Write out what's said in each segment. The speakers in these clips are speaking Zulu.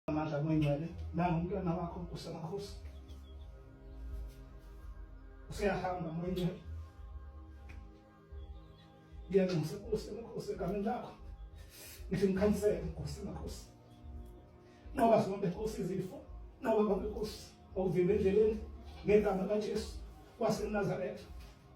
amandla kwencwele nangu umntwana wakho usemakhosi useyahamba mwencwele ngiyanxusa nkosi emakhosi egameni lakho ngithi ngikhansele nkosi emakhosi nqoba zonke nkosi izifo nqoba konke nkosi okuvimba endleleni ngegama kajesu wasenazaretha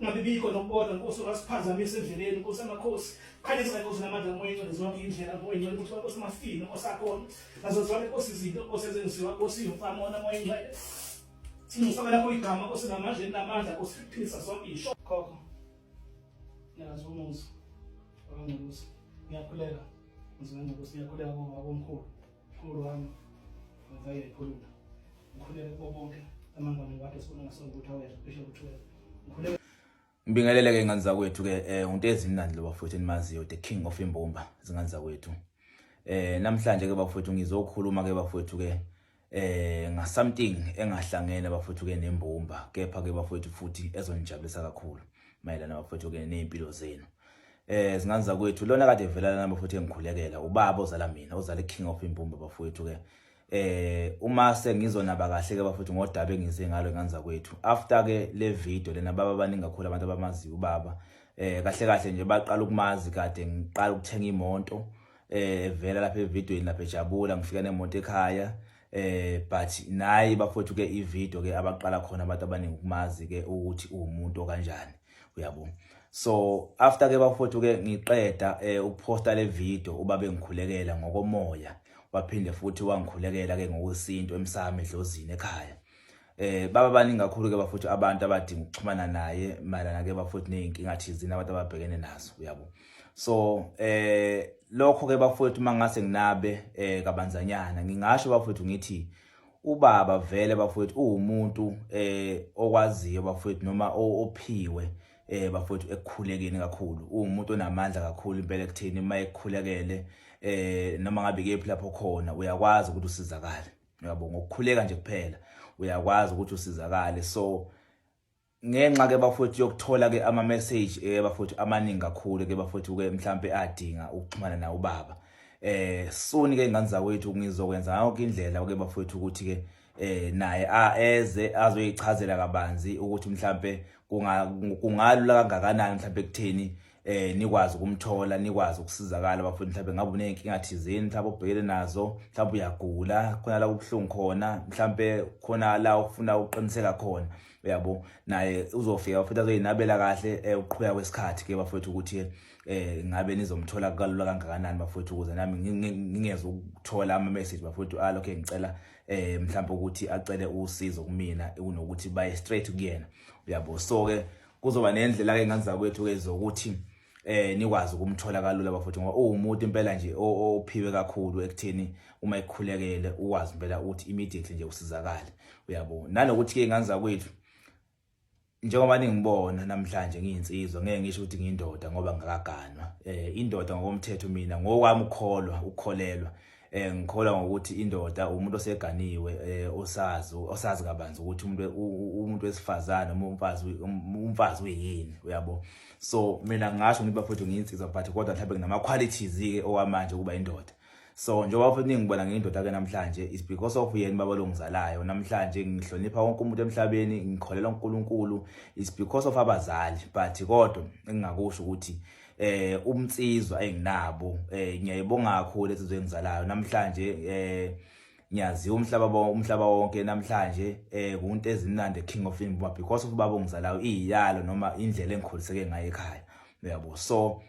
Ungabibikho nokukodwa Nkosi ungasiphazamisa endleleni Nkosi amakhosi khanyisa Nkosi namandla ngoyingcwele zonke indlela ngoyingcwele ukuthi Nkosi mafini Nkosi akhona nazo zonke Nkosi izinto Nkosi ezenziwa Nkosi yomfamona ngoyingcwele singifaka lapho igama Nkosi namandla namandla Nkosi philisa zonke isho khokho ngiyazi umuzi wangcwele Nkosi ngiyakhuleka ngizwe Nkosi ngiyakhuleka ngoba omkhulu Mkhulu wami ngivayele ikhuluma ngikhulele kubo bonke amangwane wakhe sibona ngasona ukuthi awezwa cishe kuthiwe ngikhulele Ngibingelele ke ingane zakwethu ke eh uNtezi mnandi lo bafowethu enimaziyo the king of imbumba zingane zakwethu eh namhlanje ke bafowethu ngizokhuluma ke bafowethu ke eh nga something engahlangene bafowethu ke nembumba kepha ke bafowethu futhi ezonijabulisa kakhulu mayelana bafowethu ke nezimpilo zenu eh zingane zakwethu lona kade evelana nami futhi engikhulekela ubaba ozala mina ozala king of impumba bafowethu ke eh uma sengizonaba kahle ke bafowethu ngodaba engize ngalo ngane zakwethu after ke le video lena baba baningi kakhulu abantu abamaziyo ubaba eh kahle kahle nje baqala ukumazi kade ngiqala ukuthenga imonto eh evela lapha evideweni lapha ejabula ngifika nemonto ekhaya eh but nayi bafowethu ke ivideo ke abaqala khona abantu abaningi ukumazi ke ukuthi uwumuntu okanjani uyabo so after ke bafowethu ke ngiqeda eh, ukuposta le video uba bengikhulekela ngokomoya waphinde futhi wangikhulekela ke ngokwesintu emsami edlozini ekhaya eh baba baningi kakhulu ke bafowethu abantu abadinga ukuxhumana naye mayelana ke bafowethu nezinkinga thizini abantu ababhekene nazo uyabo so eh lokho ke bafowethu mangase nginabe eh kabanzanyana ngingasho bafowethu ngithi Ubaba vele bafowethu uwumuntu eh okwaziyo bafowethu noma ophiwe eh bafowethu ekukhulekeni kakhulu uwumuntu onamandla kakhulu impela ekuthini uma ekukhulekele eh noma ngabe kephi lapho khona uyakwazi ukuthi usizakale uyabo ngokukhuleka nje kuphela uyakwazi ukuthi usizakale so ngenxa ke bafowethu yokuthola ke ama message eh bafowethu amaningi kakhulu ke bafowethu ke mhlambe adinga ukuxhumana na ubaba eh soni ke ingane zakwethu ngizokwenza yonke indlela ke bafowethu ukuthi ke eh naye aeze azoyichazela kabanzi ukuthi mhlambe kungalula kangakanani mhlambe kutheni eh nikwazi ukumthola nikwazi ukusizakala bafuna mhlawumbe ngabe uneyinkinga thizeni mhlawumbe ubhekele nazo mhlawumbe uyagula khona la kubuhlungu khona mhlawumbe khona la ufuna uqiniseka khona uyabo naye uzofika futhi azoyinabela kahle eh, uqhubeka kwesikhathi ke bafowethu ukuthi eh ngabe nizomthola kalula kangakanani bafowethu ukuze nami ngingeze ukuthola ama message bafowethu alo ah, ke ngicela eh mhlawumbe ukuthi acele usizo kumina kunokuthi baye straight kuyena uyabo so ke kuzoba nendlela ke ngani zakwethu ke zokuthi eh nikwazi ukumthola kalula bafowethu ngoba uwumuntu impela nje ophiwe kakhulu ekutheni uma ekhulekele uwazi impela ukuthi immediately nje usizakale uyabo nanokuthi ke ngani zakwethu njengoba ningibona namhlanje ngiyinsizwa ngeke ngisho ukuthi ngiyindoda ngoba ngakaganwa eh indoda ngokomthetho mina ngokwami ukholwa ukholelwa eh ngikholwa ngokuthi indoda umuntu oseganiwe eh osazi osazi kabanzi ukuthi umuntu umuntu wesifazane uma umfazi um, umfazi uyini uyabo so mina ngasho ngiba futhi ngiyinsizwa but kodwa mhlawumbe nginama qualities ke owamanje kuba indoda so njengoba futhi ningibona ngiyindoda ke namhlanje is because of yena baba longizalayo namhlanje ngihlonipha wonke umuntu emhlabeni ngikholela uNkulunkulu is because of abazali but kodwa engingakusho ukuthi eh umnsizwa enginabo eh ngiyayibonga kakhulu insizwa engizalayo namhlanje eh ngiyaziwa umhlaba umhlaba wonke namhlanje eh kunto ezimnandi king of imbuba because of baba ongizalayo iyalo noma indlela engikhuliseke ngayo ekhaya uyabo so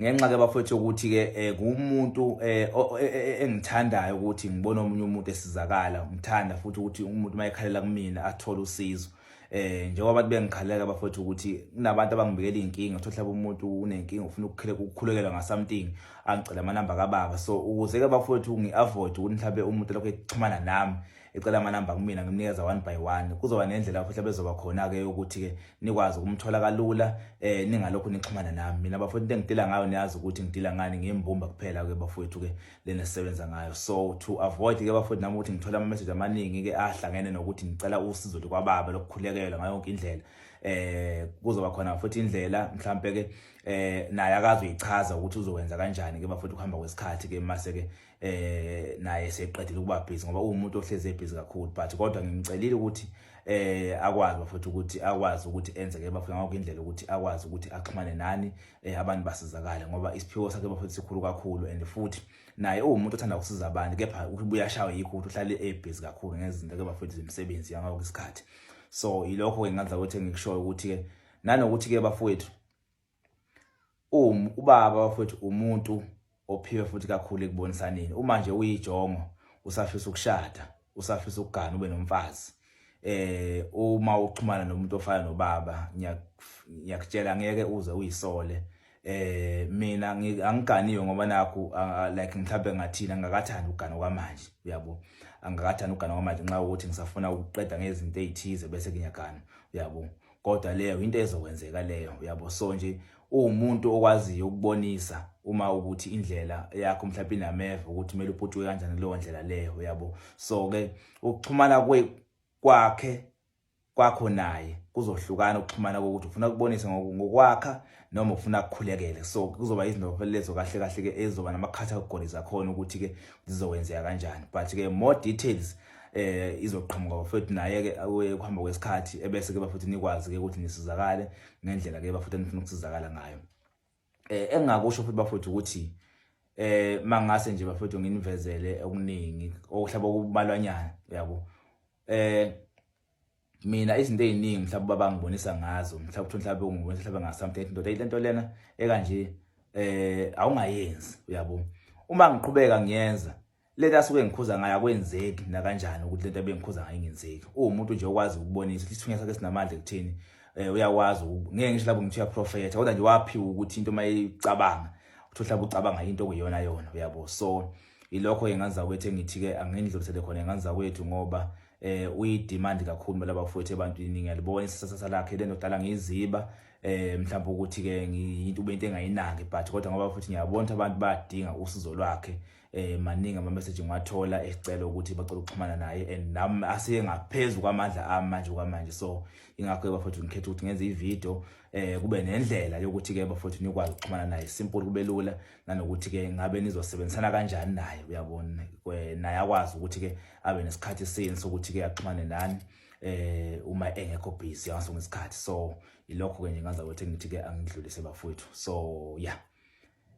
ngenxa ke bafethu ukuthi ke eh, kumuntu eh, e, e, e, engithandayo ukuthi ngibone omunye umuntu esizakala ngithanda futhi ukuthi umuntu mayekhalela kumina athole usizo eh njengoba abantu bengikhalela bafowethu ukuthi kunabantu abangibikela inkinga uthola mhlawumbe umuntu unenkinga ufuna ukukhuleka ukukhulekela nga something angicela amanamba kababa so ukuze ke bafowethu ngiavoid ukuthi mhlawumbe umuntu lokho ekuxhumana nami ecela amanamba kumina ngimnikeza one by one kuzoba nendlela futhi bezoba khona ke ukuthi ke nikwazi ukumthola kalula eh ningalokho nixhumana nami mina bafowethu into engidila ngayo niyazi ukuthi ngidila ngani ngembumba kuphela ke bafowethu ke lena sisebenza ngayo so to avoid ke bafowethu nami ukuthi ngithola ama message amaningi ke ahlangene nokuthi ngicela usizo likwababa lokukhulekela ngayo yonke indlela eh kuzoba khona futhi indlela mhlambe ke eh naye akazi uyichaza ukuthi uzokwenza kanjani ke bafowethu kuhamba kwesikhathi ke mase ke eh naye seqedile ukuba busy ngoba uwumuntu ohleze busy kakhulu but kodwa ngimcelile ukuthi eh akwazi bafowethu ukuthi akwazi ukuthi enze ke bafowethu ngakho indlela ukuthi akwazi ukuthi axhumane nani eh abantu basizakale ngoba isiphiwo sakhe bafethu sikhulu kakhulu and futhi naye uwumuntu othanda ukusiza abantu kepha ubuya shawe yikho ukuthi uhlale ebhizi kakhulu ngezinto ke bafethu zemisebenzi yangakho isikhathi so yilokho ke ngadla ukuthi ngikushoyo ukuthi ke nanokuthi ke bafethu um ubaba bafethu umuntu ophiwe futhi kakhulu ekubonisaneni uma nje uyijongo usafisa ukushada usafisa ukugana ube nomfazi eh uma uxhumana nomuntu ofana nobaba ngiyakutshela ngeke uze uyisole eh mina angiganiwe ngoba nakho like mhlawumbe ngathina ngakathanda ugana kwamanje uyabo angakathanda ugana kwamanje nxa ukuthi ngisafuna ukuqeda ngezinto ezithize bese ngiyagana uyabo kodwa leyo into ezokwenzeka leyo uyabo so nje uwumuntu okwaziyo ukubonisa uma ukuthi indlela yakho mhlawumbe inameva ukuthi kumele uphutshwe kanjani kuleyo ndlela leyo uyabo so ke ukuxhumana kwe kwakhe kwakho naye kuzohlukana ukuxhumana kokuthi ufuna ukubonisa ngokwakha noma ufuna kukhulekele so kuzoba izinto lezo kahle kahle ke ezoba namakhatha okugoniza khona ukuthi ke zizokwenzeka kanjani but ke more details eh izoqhamuka bafethu naye ke ukuhamba kwesikhathi ebese ke bafethu nikwazi ke ukuthi nisizakale ngendlela ke bafethu nifuna ukusizakala ngayo eh engakusho futhi bafethu ukuthi eh mangase nje bafethu nginivezele okuningi okuhlaba kubalwanyana yabo eh mina izinto eziningi mhlawumbe baba ngibonisa ngazo mhlawumbe ukuthi mhlawumbe ungibonisa mhlawumbe nga something ndoda ilento lena ekanje eh awungayenzi uyabo uma ngiqhubeka ngiyenza lento asuke ngikhuza ngayo akwenzeki na kanjani ukuthi lento ebengikhuza ngayo ingenzeki uwumuntu nje okwazi ukubonisa ukuthi isithunywa sakhe sinamandla ekuthini eh uyakwazi ngeke ngisho lapho ngithiya prophet kodwa nje waphiwa ukuthi into mayicabanga ukuthi uhlaba ucabanga into okuyona yona uyabo so ilokho enganza kwethu engithi ke angindlulisele khona enganza kwethu ngoba eh uyidemand kakhulu mela bafowethu ebantwini ngiyalibona isasasa lakhe lento dala ngiziba eh mhlawumbe ukuthi ke ngiyinto ubente engayinaki but kodwa ngoba futhi ngiyabona ukuthi abantu badinga usizo lwakhe eh maningi ama message ngiwathola esicela ukuthi bacela ukuxhumana naye and nami asiye ngaphezulu kwamandla ami manje kwamanje so ingakho bafowethu ngikhetha ukuthi ngenze ivideo eh kube nendlela yokuthi ke bafowethu nikwazi ukuxhumana naye simple kubelula nanokuthi ke ngabe nizosebenzisana kanjani naye uyabona naye akwazi ukuthi ke abe nesikhathi sini sokuthi ke axhumane nani eh uma engekho busy angaso ngesikhathi so ilokho ke nje ngaza ukuthi ngithi ke angidlulise bafowethu so yeah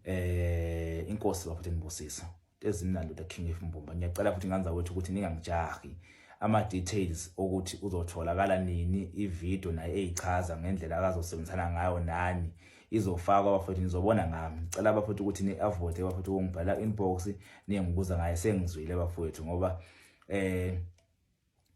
eh inkosi bafowethu nibusisa ezimnandi uDr King F Mbumba ngiyacela futhi nganza wethu ukuthi ningangijahi ama details ukuthi uzotholakala nini ivideo naye eyichaza ngendlela akazosebenzisana ngayo nani izofakwa abafowethu nizobona ngami ngicela abafowethu ukuthi ni-avote abafowethu ukungibhala inbox ningibuza ngaye sengizwile abafowethu ngoba eh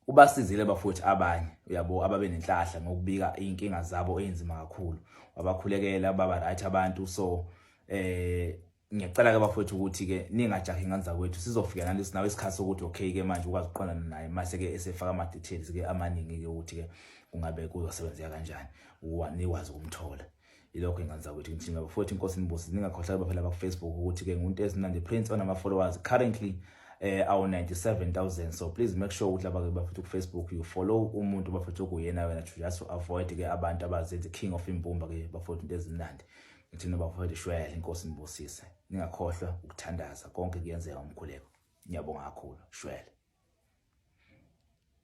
ubasizile bafowethu abanye uyabo ababe nenhlahla ngokubika inkinga zabo eyinzima kakhulu wabakhulekela baba right abantu so eh ngiyacela ke bafowethu ukuthi ke ningajahi nganza kwethu sizofika nani sinawo isikhathi sokuthi okay ke manje ukwazi uqondana naye mase ke esefaka ama details ke amaningi ke ukuthi ke kungabe kuzosebenzeka kanjani uwa nikwazi ukumthola ilokho ingane zakwethu ngithini baba futhi inkosi nibusi ningakhohlaki baphela bakufacebook ukuthi ke ngunto ezinandi prince onama-followers currently eh awu 97000 so please make sure ukuthi labake bafethu ku Facebook you follow umuntu bafethu okuyena wena to just avoid ke abantu abazenza king of imbumba ke bafethu into ezimnandi ngithi noba bafethu shwele inkosi nibusise ningakhohlwa ukuthandaza konke kuyenzeka umkhuleko ngiyabonga kakhulu shwele